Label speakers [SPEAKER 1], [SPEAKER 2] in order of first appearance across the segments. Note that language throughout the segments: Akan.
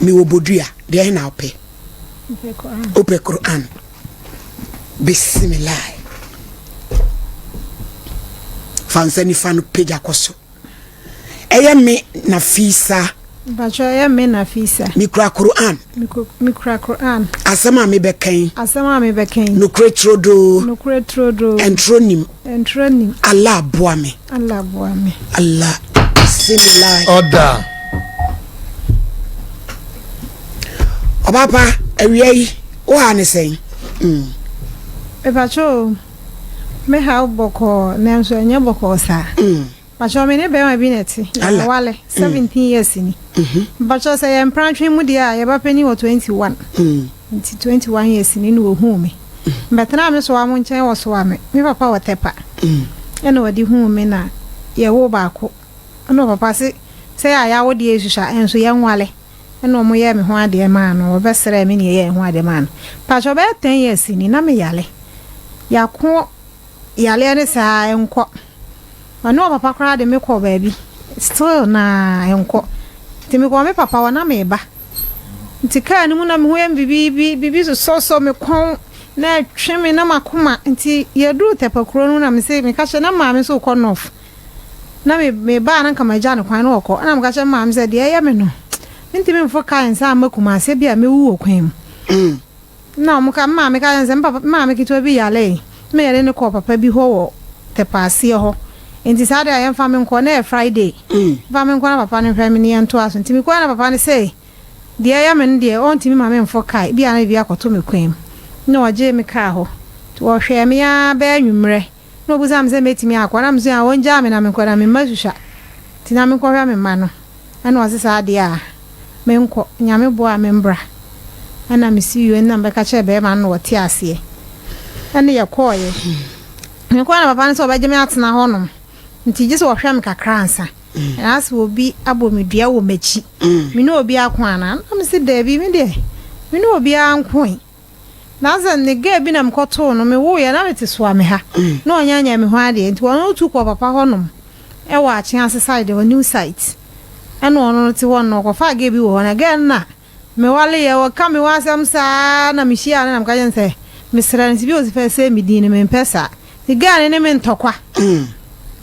[SPEAKER 1] Mewɔ bodua, deɛ he na wopɛ? Wopɛ Qur'an? Bismillah. Fa nsa nifa no pagya kɔ so. Ɛyɛ me na fisa. Mpatsɔ ɛyɛ
[SPEAKER 2] me na fisa. Mikura Qur'an.
[SPEAKER 1] Mikura
[SPEAKER 2] Qur'an. Asɛm a mebɛkan. Asɛm a mebɛkan.
[SPEAKER 1] Nokorɛ turodoo. Nokorɛ turodoo. Ɛnturo nim. Ntra nim. Allah boa me. Allah boa me. Allah bisimilahi. Ɔda. Ɔbapa awia yi wo ha ne sɛn. Mm. Epacho
[SPEAKER 2] me ha bɔkɔɔ nanso ɛnyɛ bɔkɔɔ saa. Mm. Mpakyɛw me ne bɛrima bi na ɛte. Yɛawale seventeen years ni. Mpakyɛw sɛ yɛ mprantwe mu deɛ a yɛba panin wɔ twenty one. Nti twenty one years ni na ohuu me. Mbɛtenaa me sowa mo nkyɛn wɔ sowa me. Me papa wɔ tɛpa. Ɛna ɔde huu me na yɛwoo baako. Ɛna ɔpapa se sɛ yɛ a yɛawo deɛ esusu a ɛnso yɛnwale. Ɛna ɔmo yɛɛ me ho adeɛ maa no. Ɔbɛsrɛɛ me na yɛyɛɛ yɛn ho adeɛ maa no. Mpakyɛw bɛyɛ ten years ni na me yale. Yako yaleɛ ne saa ɛnkɔ. Ɔne ɔpapa koraa de me kɔ baabi still na ɛnkɔ nti me kɔɔ me papa hɔ na meba nti kaa no mu na me ho yɛ me bibibi bibi sosɔsɔ me kɔn na ɛtwe me na makoma nti yɛduru tɛpa kuro no na me se meka kyɛ na maame so kɔ nɔf na me mebaa na nka magya no kwan na ɔkɔ ɛna meka kyɛ maame sɛ deɛ ɛyɛ me no mentumi mfo kaa nsa ama kuma ase bi a mewu wɔ kwan mu Nna ɔmo ka, me maame ka kyerɛ me sɛ me papa, me maame ketewa bi yareeɛ, nna yɛde no kɔɔ papa bi hɔ wɔ Tɛpɛaseɛ hɔ, nti saa da a yɛmfa me nkɔ, na ɛyɛ Friday, mfa me nkɔ na papa no nhwɛ me na yɛntoa so, nti me kɔɛ na papa no se deɛ ɛyɛ me no deɛ ɔntumi ma me mfɔ car, ebia na biribi akɔto me kwan mu, nna ɔgyee me kaa hɔ, nti ɔhwɛɛ me aa bɛyɛ anwummerɛ. Nna obisaa me sɛ mɛtumi akɔ, na mesɛ ah ɔngyaa me na menkɔ, na me mma susua, nti na menkɔhwɛ me mma no, ɛna ɔse saa deɛ a menkɔ, Nyame boa a membra, ɛna mesi UN na mebɛka kyerɛɛ bɛɛma no na ɔte aseɛ, ɛne yɛkɔɔeɛ, mekɔɔɛ na papa no sɛ ɔbɛgye me atena hɔ nom, nti gyesɛ ɔhwɛ me kakra ansa, anaasɛ obi abɔ me dua wɔ makyi, mene obi ako anaa, na mese daabi medeɛ mene obiara nkoe. Na dze ne girl bi na mokɔtoo no, mewooeɛ na mete Suame ha, na ɔnnyɛ annyɛ me ho adeɛ, nti ɔno tu kɔɔ papa hɔ nom wɔ Akyease side hɔ, new site, ɛna ɔno no te hɔ no, ɔkɔfaa girl bi wɔ hɔ, na girl no na mewaleeɛ, wɔka me ho asɛm saa na mehyiaa no na meka kyerɛ no sɛ mesrɛ no sɛ bi a ɔsi fɛ sɛ me din no mempɛ saa, nti girl no ne me ntɔkwa,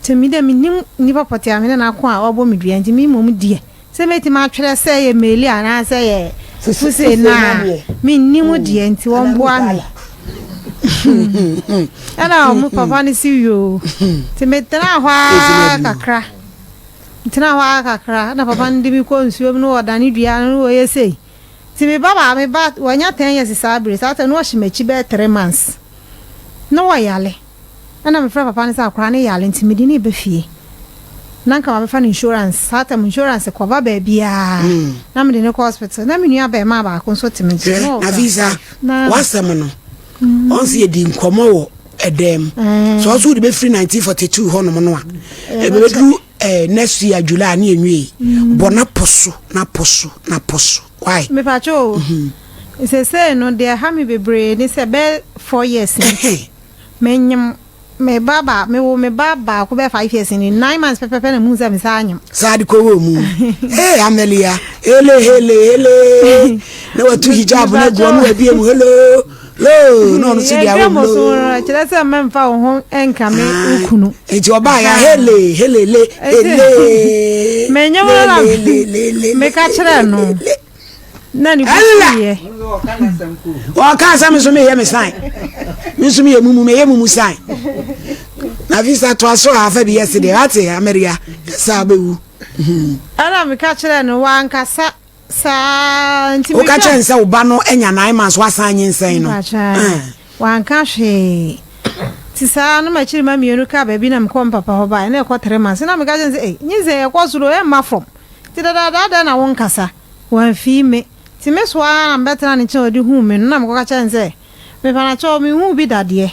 [SPEAKER 2] nti me deɛ mennim nnipa pɔtee a me ne no ako a wabɔ me dua, nti me mmom deɛ Sɛ mɛtumi atwerɛ sɛ ɛyɛ meeli anaa sɛ ɛyɛ fufu sei no a, menni mu deɛ nti wɔmboa me. Ɛna ɔmo papa no si yoo. Nti metenaa hɔ ara kakra. Metenaa hɔ ara kakra na papa no de me kɔ nsuo mu na wɔdane dua no na wɔyɛ sei. Nti me ba baa me ba wɔanya ten years saa bere saa tɛ na ɔhyɛ m'akyi bɛyɛ three months na wɔyare. Ɛna mefrɛ papa no sɛ akwadaa no yare nti mede no reba fie. Na nka mabɛfa no insurance, saa tam insurance cover baabiara. Na mede no kɔ hospital. Na me nua bɛɛmaa baako nso te me nkyɛn. Na ɔwɔ class five.
[SPEAKER 1] Na wasɛm no, ɔn sɛ yɛdi nkɔmmɔ wɔ ɛdan mu. Sɛ ɔso wode bɛfiri 1942 hɔnom no a, ɛbɛbɛduru eh, next year July ne ɛnwie. Bɔ na po so, na po so, na po so. Why? Mepakyɛ o.
[SPEAKER 2] Sesei no, deɛ ɛha me bebree ne sɛ bɛɛ four years ni. Menyem me ba ba me wo me ba baako bɛyɛ five years ni nine months pɛpɛpɛ na mu sɛ me saa nyem. saa de kɔwɔ mu
[SPEAKER 1] ee amelia hele hele hele na watu hijab na gu ɔno abie mu hello loo na ɔno so de awɔ mu loo kyerɛ sɛ mmɛmfa wo
[SPEAKER 2] ho nka me wo ah, kunu nti ɔbaa ya
[SPEAKER 1] hele hele le hele
[SPEAKER 2] menyem no na meka kyerɛ no na ne bo fuiɛ. ɔka sɛ me nso meyɛ
[SPEAKER 1] me san me nso meyɛ mumu meyɛ mumu san na visa toa so a afa bi yɛ se deɛ wate ameria ɛsa bɛwu ɛna
[SPEAKER 2] meka kyerɛ no wankasa saa nti woka kyerɛ ne sɛ wo ba no
[SPEAKER 1] anya nine months wasan nye nsɛn
[SPEAKER 2] no
[SPEAKER 1] wanka hwee ti
[SPEAKER 2] saa no makyiri ma mmienu ka baabi na mekɔ mpapa hɔ bae na ɛkɔ three months na meka kyerɛ sɛ eh, nye sɛ ɛkɔ soro ɛmma fam Nti dadaada adɛn na wonkasa? Wamfii me. Nti me so ara na mebɛtenaa ne nkyɛn a ɔde huu me no na mekɔka kyerɛɛ no sɛ, Mepanakyɛw, menhuu bi dadeɛ.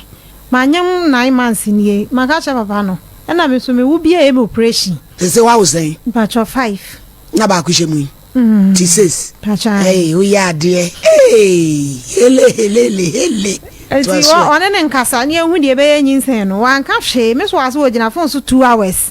[SPEAKER 2] Manyem nine months nie. Maka akyerɛ papa no. Ɛna me nso me wo bi a ɛyɛ me operation. Sese wawo sɛn?
[SPEAKER 1] Mpakyɛw five.
[SPEAKER 2] Na baako hyɛ
[SPEAKER 1] mu yi? Mm. Ti ses. Mpakyɛw ae. Ɛy, woyɛ
[SPEAKER 2] adeɛ.
[SPEAKER 1] Eeii, hele hele hele hele. Nti ɔne
[SPEAKER 2] ne nkasa ne ɛhu deɛ ɛbɛyɛ nyinsɛn no. Wanka hwee. Me so ase wɔ gyina phone so two hours.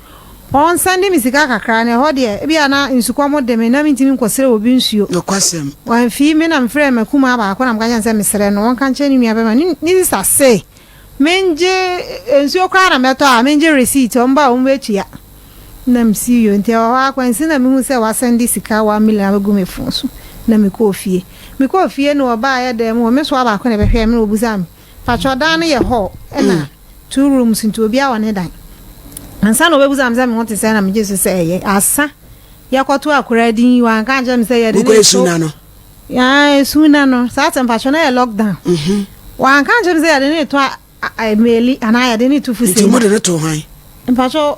[SPEAKER 2] Wɔn san de me sika kakra na ɛhɔ deɛ ebia na nsukɔm de me na mentumi nkɔsrɛ obi nsuo. Nokwasɛm. Wɔamfii
[SPEAKER 1] me na
[SPEAKER 2] mefrɛɛ m'akumaa baako na meka kyerɛɛ no sɛ mesrɛ no ɔnka nkyerɛ ne nua bɛma ne ne sista se mengye nsuo koraa na mɛtɔ a mengye receipt wɔn ba a wɔn bɛtua na msi yɔ nti ɛwɔ hɔ ara kwansi na mehu sɛ wɔasɛnde sika one million abɛgu me fon so na mekɔɔ fie mekɔɔ fie no wɔbaeɛ dan mu hɔ me soa baako na ɛbɛhwɛɛ me na wɔbusaa me Pakyɛw dan no yɛ hall ɛna two rooms nti obiara wɔ ne dan. Ansa na obebusa me sɛ me ho te sɛ na megye so sɛ ɛyɛ. Asa yɛkɔto akora din yi wanka ankyerɛ me sɛ yɛde ne to. Wokɔ esu na no.
[SPEAKER 1] Yaa esu
[SPEAKER 2] na no saa sɛ mpakyɛw na yɛ lockdown. Mhm. Wanka ankyerɛ me sɛ yɛde ne to a, a, a meli anaa yɛde ne to fusei. Nti mo de ne to hwan?
[SPEAKER 1] Mpakyɛw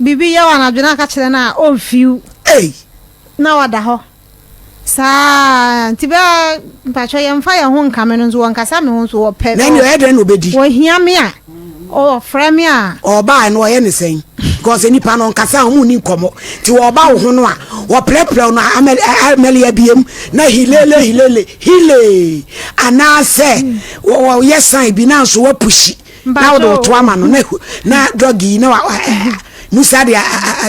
[SPEAKER 2] Biribi yɛ wo anadwo na aka kyerɛ no a, ɔmfiw. Ei! Na wada hɔ saa ara. Nti bɛ, mpakyɛ yɛmfa yɛn ho nkame no nso, wɔnkasa me ho nso, wɔpɛ. Na ɛnneɛ ɔyɛ dɛn na ɔbɛdi?
[SPEAKER 1] Wɔhia me a,
[SPEAKER 2] wɔfrɛ me a. Ɔbaeɛ no wɔyɛ no
[SPEAKER 1] sɛn? Because nnipa no nkasa a, wɔn nni nkɔmmɔ. Nti wɔba wo ho no a, wɔprɛprɛ wo no amɛle abiem na hilele hilele, hilee! Anaasɛ wɔyɛ sign bi na nso woapushi. na wode wo to ama no na drug yi na musa de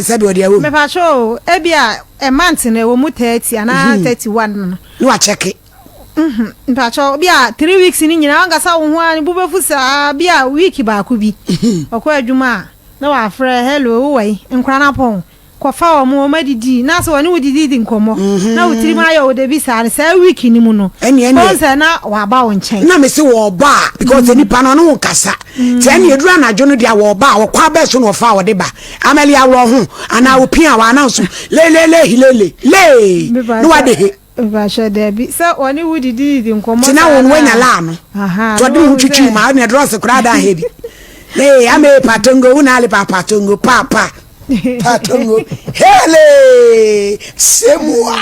[SPEAKER 1] sɛ deɛ ɔde awɔ mu. mepatwo o ebi
[SPEAKER 2] a ɛmante no ɛwɔ mu thirty anaa mhm. thirty one no. na wakyɛke.
[SPEAKER 1] Mhm. mpatwo
[SPEAKER 2] bi a three weeks ni nyinaa wankasa wo ho a ne bo bɛfu saa bi a week baako bi mhm. ɔkɔ adwuma a na wafrɛ hello wowɔ yi nkora no apɔn. Kɔfa wɔn ma wɔadidi na sɛ wɔne wo didi di nkɔmmɔ na wo tirim ayɛ wo dɛ bi saa no, saa week no mu no, Ɛnneɛ neɛ. bohu sɛ na wɔaba wo nkyɛn. na mese wɔɔba a
[SPEAKER 1] because sɛ nipa no ɔne wo nkasa nti ɛnneɛ ɛduru anadwo no deɛ wɔɔba a wɔkɔ abɛɛ so na wɔfa a wɔde ba Amelia aworɔ ho anaa opia a wɔannounce lelele hilele lee Me ba na sɛ- wɔade he Mpakyɛw, dabi.
[SPEAKER 2] Sɛ wɔne wo didididi nkɔmmɔ saa no a. Tena wɔn wanya laa no.
[SPEAKER 1] Ahaa, Tɔde wo ho twitwi mu a, ɔne drɔs koraa da ahɛ bi. Hey, ama ee patongo, wo na ale pa patongo, pa pa. Patongo, hele, semua,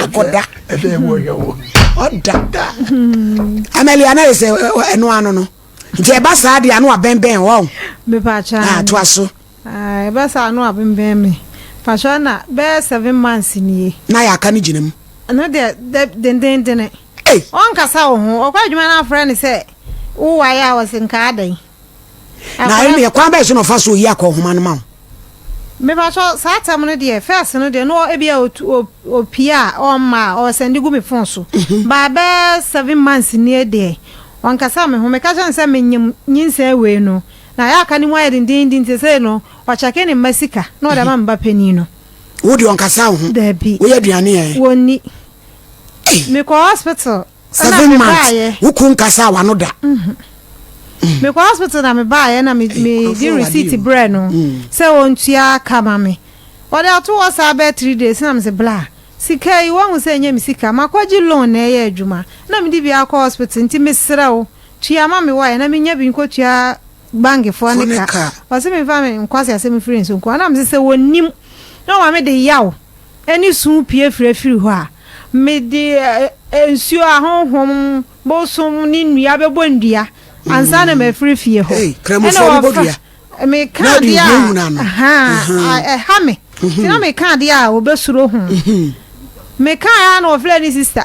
[SPEAKER 1] akɔda. Ɛdɛ ɛmu ɔyɛ wo. Ɔda. Amali, ana yɛ sɛ ɛno ano no. Nti ɛba saa deɛ ano abɛnbɛn wɔn. Mepakyɛw.
[SPEAKER 2] Ah, to aso.
[SPEAKER 1] Aah ɛbɛ saa
[SPEAKER 2] no abembɛn me mpakyɛw ɛna bɛyɛ seven months nie. Na yɛ aka no gyina mu.
[SPEAKER 1] Ɛno deɛ dɛ
[SPEAKER 2] dendendene. Ei. Ɔnkasa wo ho ɔkɔ adwuma na afrɛ no sɛ wo wae a ɔse nkaa dɛn. Na
[SPEAKER 1] ɛneɛ kwan bɛn so na ɔfa so oyi akɔ nhoma no ma wo. Me
[SPEAKER 2] pakyɛw saa tɛm no deɛ first no deɛ no ebia opie a ɔmma a ɔsɛnde gu me phone so baa bɛyɛ seven months nie deɛ ɔnkasa me ho meka kyerɛ no sɛ menyim nyinsɛn wei no. Na yɛ aka ne mu ayɛ dendennden nti sesei no ɔkyɛke ne mma sika na ɔde ama me ba panin no. Wo deɛ ɔnkasa
[SPEAKER 1] wo ho? Dabi. Woyɛ aduane
[SPEAKER 2] ɛ? Wɔnni.
[SPEAKER 1] Ei!
[SPEAKER 2] Mekɔɔ hospital na Seven months, mebaaeɛ.
[SPEAKER 1] wo kunu nkasaa w'ano da. Mekɔɔ hospital na mebaaeɛ na me, Ei, mede nkurɔfoɔ wɔ receipt adeɛ o. brɛɛ no Mm. sɛ ɔntua ka ma me. Ɔde ato hɔ saa bɛyɛ three days na mese bla, sika yi woahu sɛ ɛnyɛ me sika, makɔgye loan na ɛyɛ adwuma na mede bi akɔ hospital nti mesrɛ wo Tua ma me wire na menya bi nkɔtua bankfoɔ no ka. Ɔse memfa me nkwase asɛm mfiri nso nko a. Na mese sɛ wɔnnim na wɔma me de yaw ne su pue firi afiri hɔ a, mede nsuo a honhom, bosom ne nnua bɛbɔ nnua ansa na mafiri fie hɔ. Ɛna
[SPEAKER 2] wɔfa meka adeɛ a
[SPEAKER 1] ahaa
[SPEAKER 2] ɛha me. Nti na meka adeɛ a wɔbɛsuro ho. Mekaeɛ a na wɔfrɛ ne sister.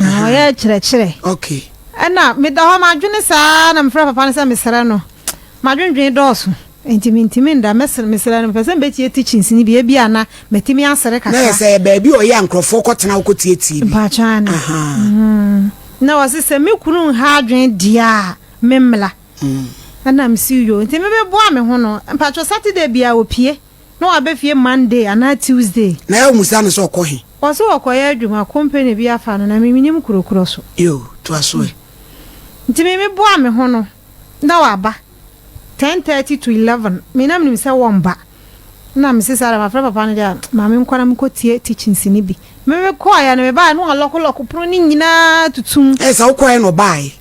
[SPEAKER 1] Na ɔyɛ
[SPEAKER 2] kyerɛkyerɛ. Okay. Ɛna
[SPEAKER 1] meda
[SPEAKER 2] hɔ madwene saa na mefrɛ papa no sɛ mesrɛ no. Madwendwen dɔɔso. Nti mentumi nda mɛsrɛ mesrɛ no mepɛ sɛ mebɛtie teachings no bi ebi a na matumi asere kakra. Na yɛ sɛ yɛ baabi a ɔyɛ a
[SPEAKER 1] nkurɔfoɔ kɔtena hɔ kɔtietie bi. Mpakyɛ ane. Ahaa.
[SPEAKER 2] Na ɔse sɛ me kunu nha adwene deɛ a memmra. Ɛna mese yoo nti mebɛboa me ho no mpakyɛ Saturday biara ɔpie. Na waba fie Monday anaa Tuesday. Na yɛ musa no sɛ
[SPEAKER 1] ɔkɔ he. Ɔse ɔkɔ yɛ adwuma
[SPEAKER 2] company bi afa no na me menim kuro korɔ so. Yoo toa so ɛ.
[SPEAKER 1] Nti me
[SPEAKER 2] me boa me ho no na waba ten thirty to eleven me na me nim sɛ wɔn ba na me se saa deɛ ma frɛ papa no deɛ a ma me nkɔ na me kɔ tie teachings no bi. Merekɔeɛ no mebaeɛ no wɔn lɔko lɔko pono no nyinaa tutum. Ɛyɛ sɛ wokɔeɛ na ɔbaeɛ.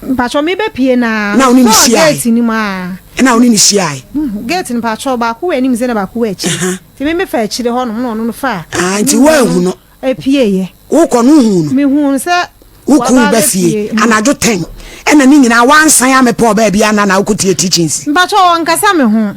[SPEAKER 1] Mpatsɔ
[SPEAKER 2] mebɛpue na mesɔɔ gate
[SPEAKER 1] no mu a.
[SPEAKER 2] Ɛna wo ne no hyiaeɛ.
[SPEAKER 1] Gate no mpatsɔ
[SPEAKER 2] baako wɔ anim sɛ na baako wɔ akyire. Nti me mefa akyire hɔ nom na ɔno no fa. Ah nti woanhu no.
[SPEAKER 1] Apieeɛ.
[SPEAKER 2] Wokɔ no wohuu no.
[SPEAKER 1] Mehuu no sɛ.
[SPEAKER 2] Wokuu ba
[SPEAKER 1] fie anadwo ten ɛna ne nyinaa woansan amɛpɔɔ baabi a na na wokɔtie teachings. Mpatsɔ ɔnkasa me
[SPEAKER 2] ho.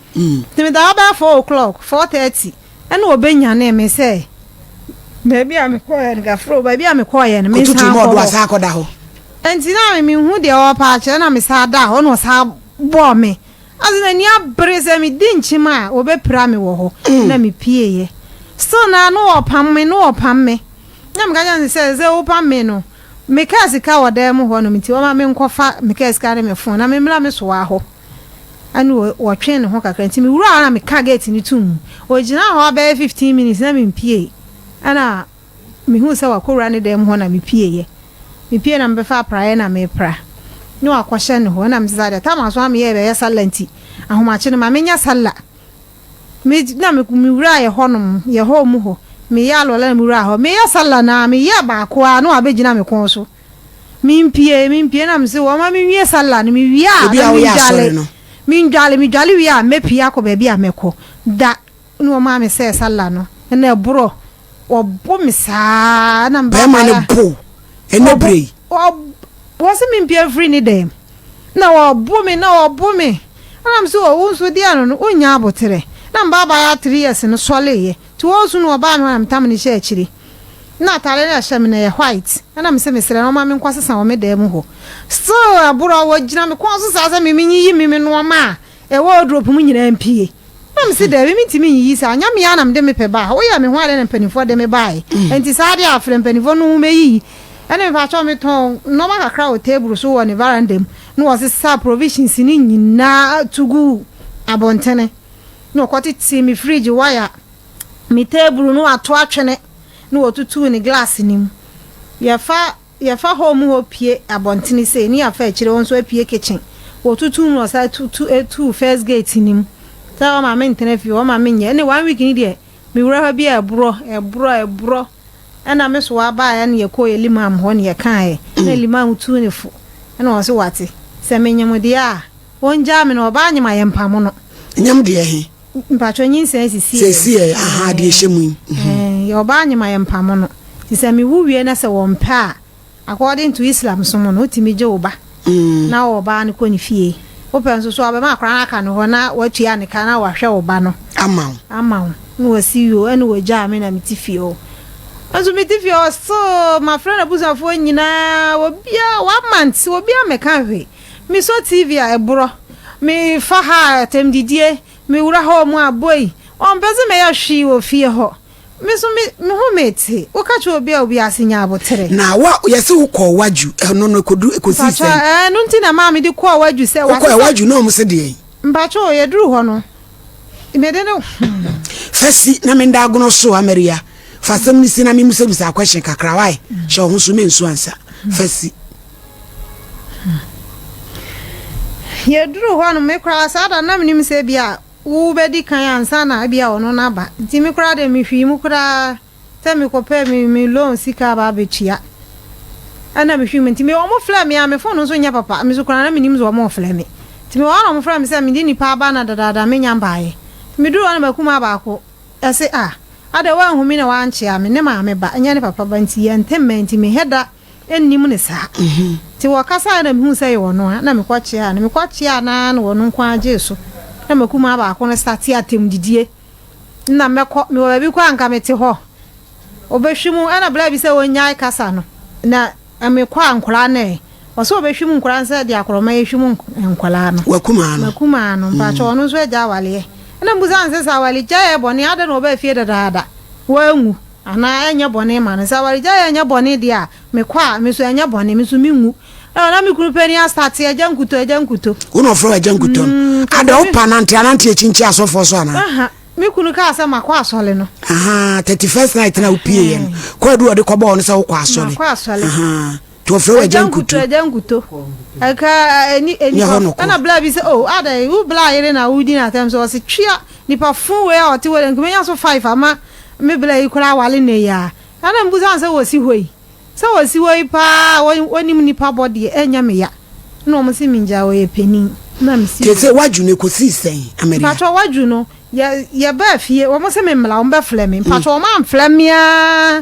[SPEAKER 2] Nti meda hɔ bɛyɛ four o'clock, four thirty, ɛna ɔbɛnyanee me sɛ baabi a mekɔɔeɛ no, Gafuro, baabi a mekɔɔeɛ no, Koto tum mensan ɔdo nkɔ hɔ. asan akɔda
[SPEAKER 1] hɔ. Nti na me
[SPEAKER 2] menhu deɛ ɔrepa akyerɛ na mesan daa hɔ na ɔsan bɔɔ me. Ase m'ani abere sɛ medi nkyem a ɔbɛpira me wɔ hɔ na mepieeɛ. Still no ara na ɔrepam me, na ɔrepam me. Na meka kyerɛɛ no sɛ, sɛ wopam me no, me kaa sika wɔ dan mu hɔnom nti ɔmma menkɔfa me kaa sika ne me phone na memmra me soa hɔ. ɛnna ɔtwee ne ho kakra nti mewuraa hɔ na mekaa gate no toom. Ɔgyinaa hɔ abɛyɛ fifteen minutes na mempuee, ɛnna mehuu sɛ wakɔwura ne dan mu hɔ na mepueeɛ. Mepuee na mebɛfa apraeɛ na merepra na wakɔhyɛ ne hɔ, ɛnna mese saa deɛ tam a so a meyɛɛ bɛyɛ sallah nti ahomakye no ma menyɛ sallah. Me na mewuraa yɛ hɔnom, yɛ hall mu hɔ, meyɛɛ alwala na mewuraa hɔ. Mereyɛ sallah no ara meyɛɛ baako ara na wabɛgyina me kɔn so. Mimpie, mimpie na mese wɔma me nwie sallah no, mewie a na mendwale. Mendwale, medwale wie a mɛpie akɔ baabi a mɛkɔ. Da na wɔmaa me sɛ sallah no, ɛna ɛborɔ, wɔbo me saa na meba Bɛrima no bo
[SPEAKER 1] ɛnɛ berɛ yi. Wɔse
[SPEAKER 2] mempie mfiri ne dan mu, na wɔbo me, na wɔbo me. Ɛna mese o, wo nso deɛ no no, wonnya aboterɛ. Na meba abaayewa three years no sɔleeɛ, nti wɔɔsu no wɔbaa me hɔ na metam no hyɛɛ akyire. na atare no a ɛhyɛ me no yɛ white ɛna me se mesrɛ no ɔma me nkɔ sesa wɔ me dan mu hɔ still aboro wɔ gyina me kɔn so saa sɛ me menyiyi me me nnoɔma a ɛwɔ wardrobe mu nyinaa mpie na me se daabi mentumi nyiyi saa nya me anam de me pɛ baa woyɛ me ho ade na mpanimfoɔ de me baae nti saa de afrɛ mpanimfoɔ no ho mɛyiyi ɛne me pakyɛw me tɔn nnoɔma kakra wɔ table so wɔ ne varanda mu na wɔsesa provisions no nyinaa tugu abɔntene na ɔkɔtetee me fridge wire ne teeburu no ato atwene na wɔtutuu ne glass no mu. Yɛfa yɛfa hall mu hɔ pue abɔntene sei ne yɛafa akyire hɔ nso apue kitchen. Wɔtutuu mu na wɔsan tu tu tuu first gate no mu sɛ wɔma me ntena fie hɔ, wɔma me nyɛ. Ɛnna one week no deɛ, mewura hɔ bi a ɛborɔ, ɛborɔ, ɛborɔ. Ɛnna me soa baeɛ na yɛkɔɔ yɛn limam hɔ na yɛkaeɛ. Ɛnna limam tuu ne fo na ɔse wate, sɛ menyem deɛ a, wɔngyaa me na ɔbaa nyem a yɛmpamo no. Nyem deɛ he?
[SPEAKER 1] Mpatsɔ nyinsɛn
[SPEAKER 2] sisi yɛ. Sisi yɛ ahaa
[SPEAKER 1] deɛ hyɛ mu yi. Ɛɛn yɛ ɔbaa
[SPEAKER 2] nye ma yɛ mpamo no nti sɛ me wu wie na sɛ wɔ mpɛ a according to Islam som no wo tumi gye wo ba na wo ɔbaa no kɔ ne fie wo pɛ nso so a ɔbɛ ma akora no aka ne hɔ na wa tua ne ka na wa hwɛ wo ba no ama wo ama wo na wa si wio ɛna wɔ gyaa me na me ti fie hɔ nso me ti fie hɔ still ma frɛ na busuafoɔ nyinaa wɔ bia one month wɔ bia mɛ ka hwee. Me sɔ TV a ɛborɔ, me fa ha a atɛm didie, me wura hɔ ɔmo a boi, wɔn mpɛ se mɛyɛ hwee wɔ fie hɔ, me so me me ho me te, wo ka kyerɛ obi a obi ase nya abotere. Na wo a yɛse wo
[SPEAKER 1] kɔɔ Wadwu ɛno no ɛkɔduru ɛkɔsii Mpakyɛ sɛn? ɛɛ ɛno nti na ɛmaa me
[SPEAKER 2] de
[SPEAKER 1] kɔɔ
[SPEAKER 2] Wadwu sɛ
[SPEAKER 1] Wo kɔɛ
[SPEAKER 2] wasesa. Wadwu
[SPEAKER 1] na
[SPEAKER 2] ɔmo se
[SPEAKER 1] deɛn?
[SPEAKER 2] Mpakyɛ
[SPEAKER 1] o
[SPEAKER 2] yɛduru hɔ
[SPEAKER 1] no
[SPEAKER 2] me de no hmm.
[SPEAKER 1] Fa si na me nda agono so Ameria, fa asɛm no si na me mmisabisaa question kakra why, hyɛ wo ho so mensu ansa, fa si.
[SPEAKER 2] Yɛduruu hɔ no, me koraa saa da no na menim sɛ ebia wobɛdi kan ansa na ebia ɔno no aba. Nti me koraa deɛ mehwii mu koraa sɛ mekɔpɛ me me loan sika aba abɛtua. Ɛna mehwii mu nti me wɔn frɛ me a me phone nso nyɛ papa me so koraa na menim sɛ wɔn refrɛ me. Nti me wɔ hɔ na wɔn frɛ me sɛ mede nipa aba na dadaada menya baeɛ. Nti meduruu hɔ na m'akumaa baako ɛse ah adɛ woanhu me na woankyea me ne maame ba ɛnyɛ ne papa ba nti yɛnte mmɛn nti menhɛ da nnim no saa. Nti wɔkasaeɛ na mehuu sɛ ɛyɛ ɔno a, na mekɔkyeaa no. Mekɔkyeaa no ara na ɔno nko ara gyee so. Na m'akumaa baako no startee atɛmdidie. Nna mɛkɔ, mewɔ baabi kɔ a anka mete hɔ. Ɔbɛhwim, ɛna berɛ bi sɛ ɔnnyae kasa no, na mekɔ a nkwadaa no ɛ. Ɔsɛ ɔbɛhwim nkwadaa no sɛ deɛ akorɔma yi hwim nkwadaa no. W'akumaa no? M'akumaa no. Mpakyɛ ɔno nso agya awaleɛ. Ɛna mebisa no sɛ, sɛ awaregyaeɛ yɛ bɔne a, adɛn na ɔbaa fie dadaada? Wanwu. Anaa ɛnyɛ bɔne ma no. Sɛ awaregyaeɛ ɛnyɛ bɔne deɛ a, mekɔ a, me nso ɛnyɛ bɔne, me nso menwu. Ɛwɔ na me kunu panin astate agya nkutoo, agya nkutoo. Wo na ɔfrɛ wo agya
[SPEAKER 1] nkutoo no? Mm, Ada, kɛsɛ me. wopa nante anante akyinkyin asɔfoɔ so anaa? Aha, me kunu kaa
[SPEAKER 2] sɛ makɔ asɔre no. Ahaa, 31st
[SPEAKER 1] night no a wopiiɛ no, Ahaa. kɔ adu a ɔde kɔbɔɔ wo no sɛ wokɔ asɔre. Makɔ asɔre. Ahaa.
[SPEAKER 2] To ɔfrɛ
[SPEAKER 1] wo Agya Nkuto. Agya Nkuto, Agya Nkuto.
[SPEAKER 2] Ɛka ɛni ɛni hɔ nokɔ. Ɛna bla bi sɛ oh adɛn wo bla yere na wodi no atɛm so ɔsi twia nipa fun wei a ɔte hɔ dɛ nkuma nya so five ama me bla yi koraa awale nnɛ yi aa ɛna me busa no sɛ wɔsi hɔ yi sɛ wɔsi hɔ yi paa wɔnim nipa bɔ deɛ ɛnyɛ me ya ɛna wɔn si me ngya ɔyɛ panin ɛna me si. Te sɛ wadwo no ekosi
[SPEAKER 1] sɛn Ameria. Mpatwɔ wadwo no
[SPEAKER 2] yɛ yɛ baa fie wɔn si me mmla wɔn bɛ flɛ me mpatwɔ wɔn anflɛ me aa.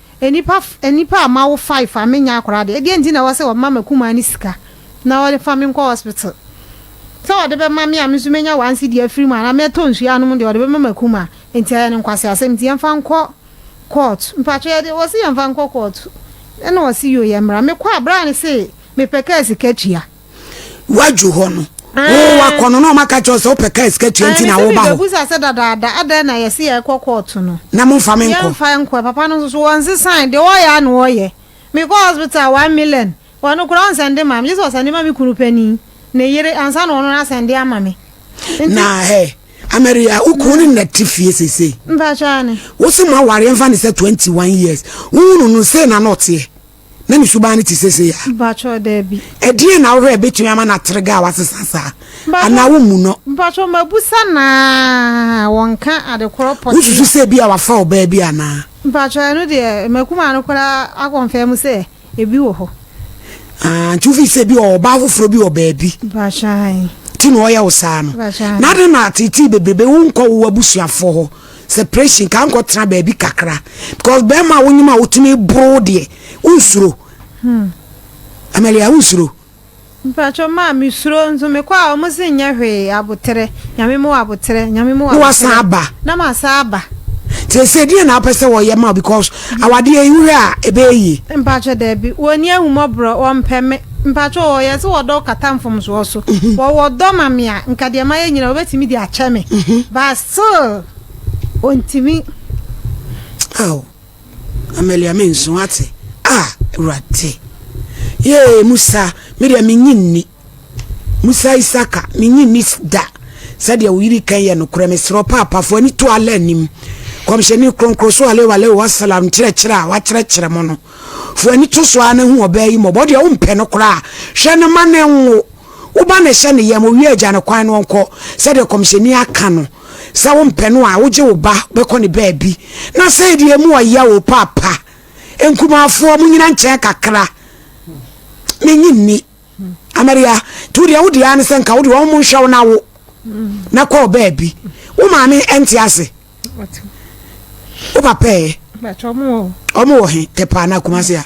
[SPEAKER 2] Nnipa nnipa a mawo five a mennya akwadaa deɛ, ɛdeɛ nti na ɛwɔ sɛ wɔma m'akumaa no sika na wɔfa me nkɔ hospital? Sɛ wɔde bɛma me a me nso mɛnya one cedi afiri mu anaa mɛtɔ nsuo anom deɛ, wɔde bɛma m'akumaa. Nti ɛyɛ no nkwaseasɛm nti yɛmfa nkɔ court. Mpakyɛ yɛde, wɔse yɛmfa nkɔ court ɛna wɔse yoo yɛmmra. Mekɔ a bra no se mepɛ kaa sika tua. Woadwo
[SPEAKER 1] hɔ no, wo wakɔ no na ɔma ka kyerɛ sɛ wopɛ kaa sika tua nti na woba hɔ. Ɛna bisa sɛ dadaada
[SPEAKER 2] adɛn na yɛsi yɛ kɔ kɔɔto no. Na mo nfa me nkɔ. Yɛn nfa
[SPEAKER 1] nkɔ papa no nso
[SPEAKER 2] so wɔn nsesan deɛ wɔyɛ a na wɔyɛ. Me kɔ hospital one million wɔn no koraa ɔnsɛnde ma me gye sɛ ɔsɛnde ma me kunu panin ne yere ansa na wɔn no asɛnde ama me. Na hɛ
[SPEAKER 1] Amaria wo kunu ne na ti fie sese. Mpakyɛ ani.
[SPEAKER 2] Wosi mo aware
[SPEAKER 1] nfa ne sɛ twenty one years. Wo hunu no se na na ɔteɛ. na ne suban no te seesei a? Mpakyɛw, dabi.
[SPEAKER 2] Ɛdeɛn na wohwɛ a
[SPEAKER 1] ɛbɛtumi ama n'atergɛa asesa saa? Anaa wommu no? Mpakyɛw, mabusa
[SPEAKER 2] no ara a, wɔnka ade korɔ pɔtee a. Wosusu sɛ ebia wafa
[SPEAKER 1] ɔbaa bi anaa? Mpakyɛw, ɛno deɛ,
[SPEAKER 2] m'akumaa no koraa akɔnfɛm sɛ ebi wɔ hɔ. Aah, nti
[SPEAKER 1] wofii sɛ ebia ɔwɔ ɔbaa foforɔ bi wɔ baabi. Mpakyɛw, ae. Nti
[SPEAKER 2] na ɔyɛ wo saa
[SPEAKER 1] no? Mpakyɛw, ae. Na adɛn na teetee bebrebe wonkɔ wo abusuafoɔ hɔ? separation ka nkɔ tena baabi kakra because bɛrima a wonyim a wotumi boro deɛ wonsuro hmm. amalia wonsuro mpatwɔ
[SPEAKER 2] maa me suro nso mekɔ a wɔn se nyɛ hwee aboterɛ nyame mu aboterɛ nyame mu aboterɛ aba
[SPEAKER 1] na ma sa
[SPEAKER 2] aba sese deɛ
[SPEAKER 1] na apɛ sɛ wɔyɛ ma because awadeɛ yi wohwɛ a ɛbɛyɛ yie mpatwɔ daabi
[SPEAKER 2] wɔni ahumɔborɔ wɔmpɛ me mpatwɔ wɔyɛ sɛ wɔdɔ kata mfomsoɔ so mhm. wɔwɔ dɔ ma me a nka deɛ mayɛ nyina wɔbɛtumi de akyɛ me mhm. bas Sir, ontumi. Ao,
[SPEAKER 1] Amelia menso ate. Ah, Awurade! Yee, Musa, me deɛ menye nni. Musa Isaka, menye nni da. Sɛdeɛ wo yiri kan yɛ nokorɛ, mesrɛ wo paapafo ani to Allah anim. Kɔmhyɛni kronkron so alaihi wa alaihi wasalam nkyerɛkyerɛ a wakyerɛkyerɛ mo no. Fo ani to so ara na hu ɔbaa yi mmɔbɔ. Wo deɛ wompɛ no koraa. Hwɛ no ma ne nwo. Wo ba no hyɛ ne yam, owie a gya no kwan na ɔnkɔ, sɛdeɛ Kɔmhyɛni aka no, sɛ wompɛ no a, wogye wo ba bɛkɔ ne baabi. Na sei deɛ emu ɔya o, paapa, nkumaafoɔ, monyina nkyɛn kakra, mennye nni. Amaria, nti wodeɛ wodeɛ ara ne sɛ nka wode wɔn nhwɛ wo na wo, na kɔ baabi. Wo maame ɛnte ase? Wo papa ɛ?
[SPEAKER 2] Ɔmo wɔ he,
[SPEAKER 1] tɛpaa na Kumasi a?